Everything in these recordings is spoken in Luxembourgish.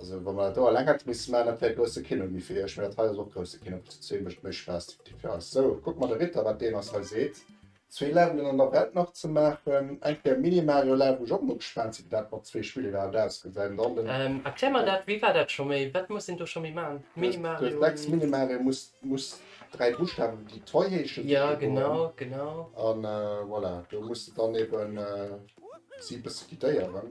Also wa mer dat do a Längert misste man, dat wär e grousse Kino gi fir iech, mee dat hei ass och e grousse Kino, plus zu zwee mécht méi Spaass de Petit fir eis. Sou, kuck mer de Ritter, wat deen eis hei seet. Zwee Levelen an der Welt nach ze maachen, eng Kéier Mini-Mario Land, wou ech och mol gespaant sinn, wéi dat mat zwee Spiller iwwerhaapt ausgesäit. An dann den. Erklär mer dat, wéi war dat scho méi? Wat muss een do scho méi maachen? Mini-Mario. Du hues sechs Mini-Marien, muss, muss dräi Buschtawen, déi toi heeschen. Jo, genau, genau. An voilà, do muss de dann eben si e bësse guidéieren.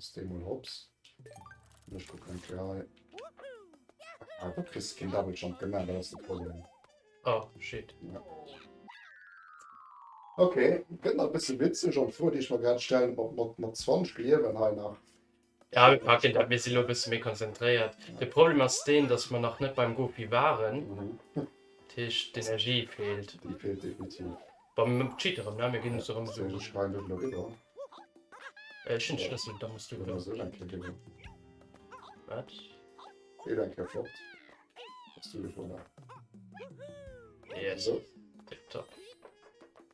Ech dei mol hops an ech kucken fir hei. Ah do kriss de keen double jump, genau dat ass de Problem. Oh shit. Ok, gëtt nach e bësse witzeg an d'Fro déi ech mer grad stellen, ob mer et mat 20 Liewen hei nach. Ja, mir packen dat. Mir si lo e bësse méi konzentréiert. De Problem ass deen, datt mer nach net beim Gopi waren. Dat heescht, d'Energie feelt. Déi feelt definitiv. Bon, mir cheaten erëm, ne? Mir ginn uns erëm Suen. Ech schreien dech elo virun. Ech hunn de Schlëssel, da muss du Oder elo. sou eng Kéier ginn et. Wat? Dee elo eng Kéier flott. Hues du gewonnen. Yes. Sou. Tiptop.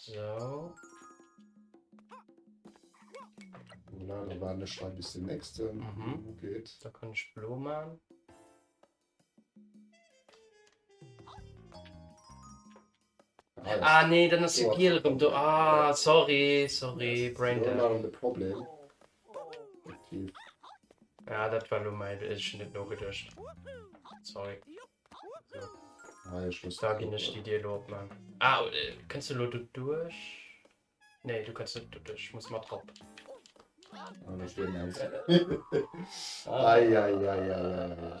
So. Voilà, da war ech hei bis den nächsten. Mhm. Geet. Da kann ich blo machen. Ah nee, dann ass jo giel rëm do. Ah, sorry, sorry, Braindamp. Problem. Ja, dat war lo mei Beechen net nogedecht. Sorry. Ah, ich muss da gin ech die Dir lo op man. Ah, äh, kannst du lo du duerch? Nee, du kannst net du duerch. Ich muss mat hopp. Eieieiei.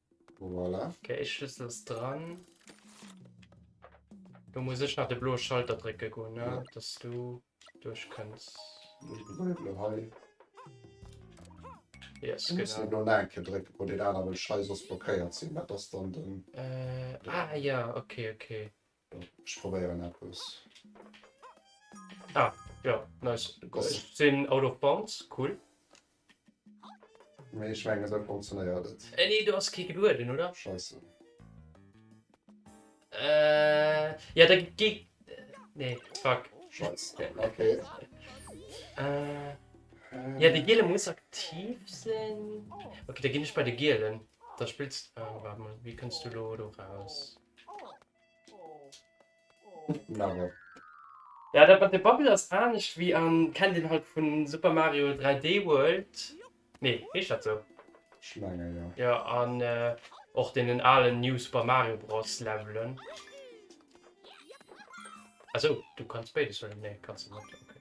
Voilà. Okay, e Schlüssel ass dran. Do muss ech nach de bloe Schalter drécke goen, ne? Ja. Dass du duerch kënns. Ich bleiwe lo hei. Yes, Du muss genau. den do nach eng Kéier drécken, wou deen anere Scheiß ass blockéiert sinn. Dat ass dann den. Äh, ah ja, okay, okay. Ech probéieren eppes. Ah, jo, nice. Ech sinn out of bounds, cool. Mee ech mengen esou funktionéiert et. Eh nee, do ass kee gelueden, oder? Scheisse. Äh, jo, da gi. Nee, fuck. Scheiss, ok. Äh, jo, de giele muss aktiv sinn. Ok, da ginn ech bei de gielen. Da spills. Waart mol, wéi kënns du elo do raus? Love. Ja, dat mat de Bubble ass anescht wéi an, kennt een halt vun Super Mario 3D World? Nee, heescht dat sou? Ech menge jo. Jo, an och deenen alen New Super Mario Bros Levelen. Ah sou, du kanns béides huelen? Nee, kanns de net, ok.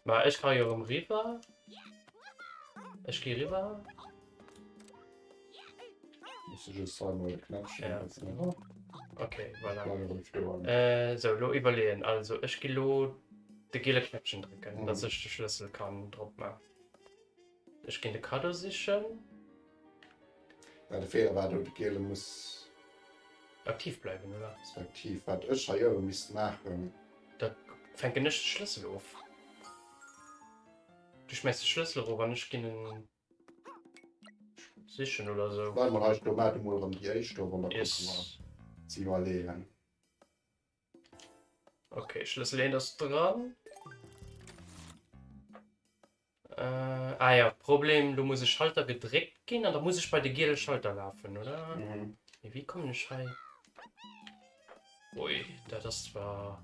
Ma ech kann jo erëm riwwer. Ech gi riwwer. Muss du just zweimal den Knäpp Ja. schmeißen, oder? Ok, voilà. Dann rufst du an. Äh, sou, elo iwwerleeën. Also, ech gi lo de gele Knäppchen drécken, dass ech de Schlëssel kann drop maachen. Ech gin de Cadeau sichen. Mä de Feeler war do de Giele muss. Aktiv bleiwen, oder? Respektiv wat ech hei ower misst maachen. Da fänken ech de Schlëssel of. Du schmäiss de Schlëssel erof an ech gin en sichen oder sou. Bleiwe mer hei sto. Maat emol erëm déi éischt of an da kucke mer. Yes. Ze iwwerleeën. Okay, Schlüssel 1 ass dran. Äh, ah ja, Problem, du muss e Schalter gedréckt ginn an da muss ich bei de giele Schalter lafen, oder? Mhm. Nee, wie kommen ich hei? Ui, dat ass zwar...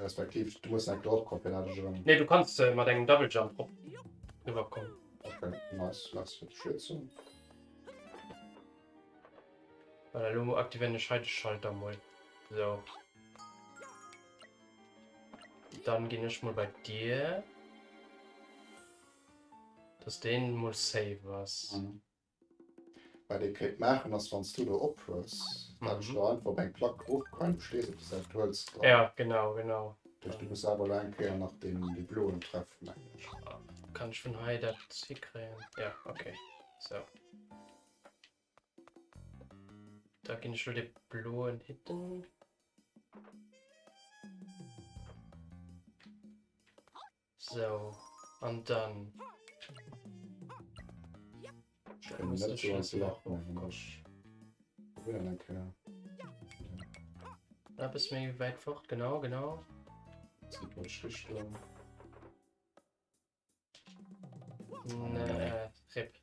Respektiv du muss eng Drop kommen fir dat ech erëm. Nee du kanns mat engem Double Jump drop riwwer kommen. Okay nice merci fir d'Unterstützung. Voilà elo aktivéieren ech hei de Schalter mol sou. Dann ginn ech mol bei dir dass deen mol safe ass. Mhm. Wat ee kéint maachen ass, wann s du do ophues, dat ech elo einfach op eng Plack erofquellen, du stees op der Säit, du hëls drop. Ja, genau, genau. Duerch du muss awer elo eng Kéier nach deen dee bloen treffen, mengen ech. Kann ech vun hei dat hikréien? Ja, okay. Sou. Da ginn ech elo dee bloen hitten. Sou, an dann. Eppes méi wäit fort, genau, genau. Rip.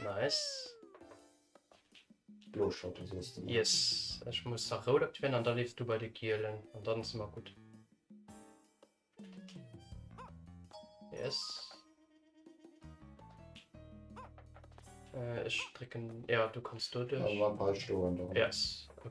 Nice. Yes, ich muss nach rot aktivieren und dann lebst du bei den Gielen und dann ist immer gut. Yes. Äh, ich drücken. Ja, du kannst du durch. Yes, okay.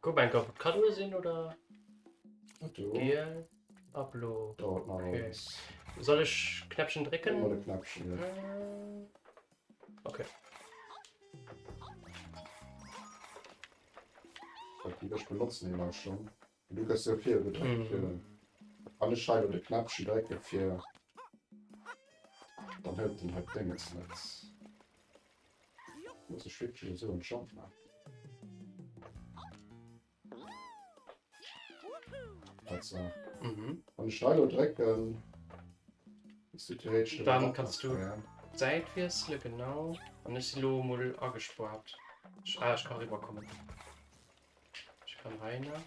Kuck eng kaputt kann hu sinn oder Giel Ablo okay. Soll ech Knäppchen drecken Knäppchen. Okay. Ech benutzen immer schon du gëss jo fir gedréckt fir den alle Scheide de Knäppchen drécke fir dann hëlt den halt Dénges net. Huet sech wierklech esou entschloffen. Wann ech hei lo drécken, ass déi theoretesch net erop machbar, ja? D'Säit wiessele, genau. An ech si lo emol agespaart. Ah, ech ka riwwerkommen. Ech kann hei nach.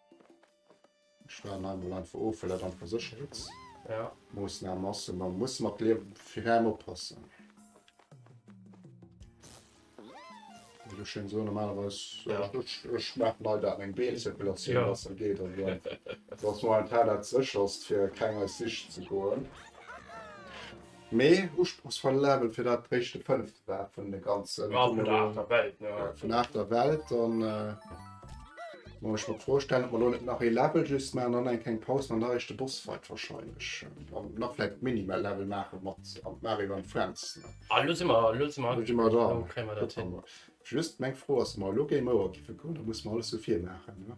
Ech waren hei mol einfach of, well dat einfach Sécherheetsmoossnamen ass, ma musse mat liewen, fir rem oppassen. Wéi ech schéin soen, normalerweis, ech maachen hei dat eng Beenzirkulatioun ass, dat geet also net, dat ass momentan dat sécherst, fir keng eis Sich ze goen. Mee usprochsvoll Level fir dat éischte fënneft war vun de ganzen. Vun der aachter Welt, jo. Vun der aachter Welt, dann muss ech mer d'Fro stellen, ob mer elo net nach ee Level just maachen, dann eng kleng Paus mam alleréischte Bossfight warscheinlech. An nach vläicht d'Mini-Level maache mat Mario and Friends. Ah, elo si mer, elo si mer. Elo si mer dran. Elo kréie mer dat hin. Just meng Fro ass, ob mer elo Game Over giffe goen, da musse mer alles vu vir maachen, ne?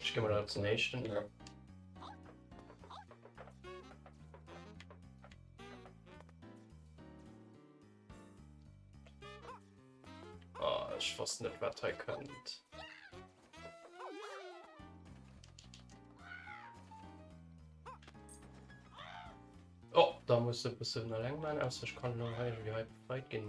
Ech gi mol op den éischten. Oh, ech wosst net wat hei kënnt. Oh, da muss e bëssen eleng man, ausser ech kann elo hei ewéi hei befreit ginn.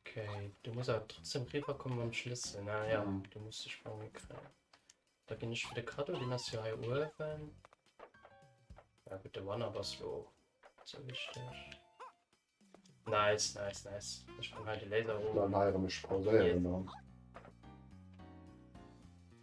Okay, du muss aber trotzdem rüber kommen beim Schlüssel. Na ja, mhm. du musst dich bei mir kriegen. Da bin ich für den Kado, den hast du hier oben. Ja gut, der Wanner warst du auch. So wichtig. Nice, nice, nice. Ich bin halt den Laser hoch. Dann heiraten mich pausieren. Yes.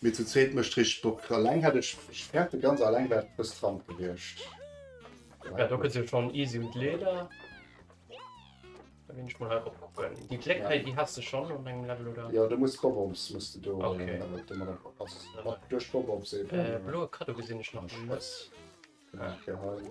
Mee zu zweet mecht richteg Bock. Alleng hätt ech ferte ganz alleng wär et bëss stramm gewierscht. Ja do gëtt jo schon easy un d'Leeder. Da ginn ech mol hei rop kucken. Déi Kléck hei déi has de schon op engem Level oder? Jo do muss Bob-Ops muss de do mat do mat op duerch Bob-Ops eben. Bloe Kaddo gesinn ech nach net. Genee fir hei.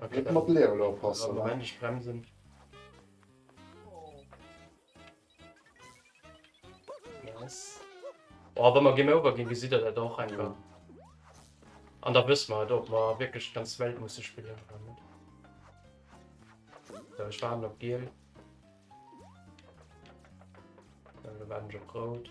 Net mat Leerele oppassen, ne? Oh, wa mer Game Over ginn, gesitt Der dat och einfach. An da wësse mer et, ob mer wierklech d'ganz Welt musse spillen oder net. Esou, ech waarden op Giel. Elo waarden ech op Rout.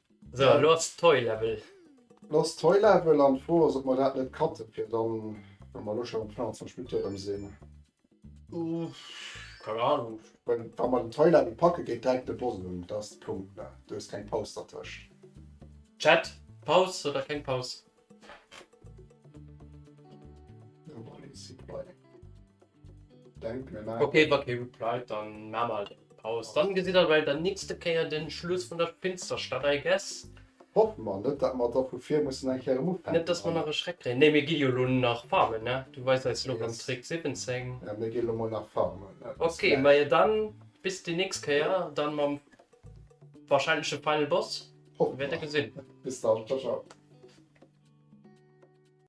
So, ja. lo ass Toy Level. Lo ass Toy Level an d'Fro ass, ob mer dat net cutten, fir dann, wa mer lo schon op 25 Minutte erëm sinn. Uff, keine Ahnung. Wenn, wa mer den Toy Level packen, geet direkt de Boss un. Dat ass de Punkt, ne? Do ass keng Paus dertëscht. Chat, Paus oder keng Paus? Ok wa kee replied dann maa mer halt eng Paus, dann gesitt der bei der nächster Kéier den Schluss vun der Finsterstadt I guess. Hoffen mer net dat mer dervu vir mussen eng Kéier erem ufänken. Net dass mer nach e Schreck kréien. Nee mir gi jo lo nach farmen ne, du weis eis lo beim Trick 17. Jo mir gi lo mol nach farmen. Ok majo dann bis déi nächst Kéier dann mam wahrscheinleche final boss. Hoffen mer. Wäert der gesinn. Bis dann ciao ciao.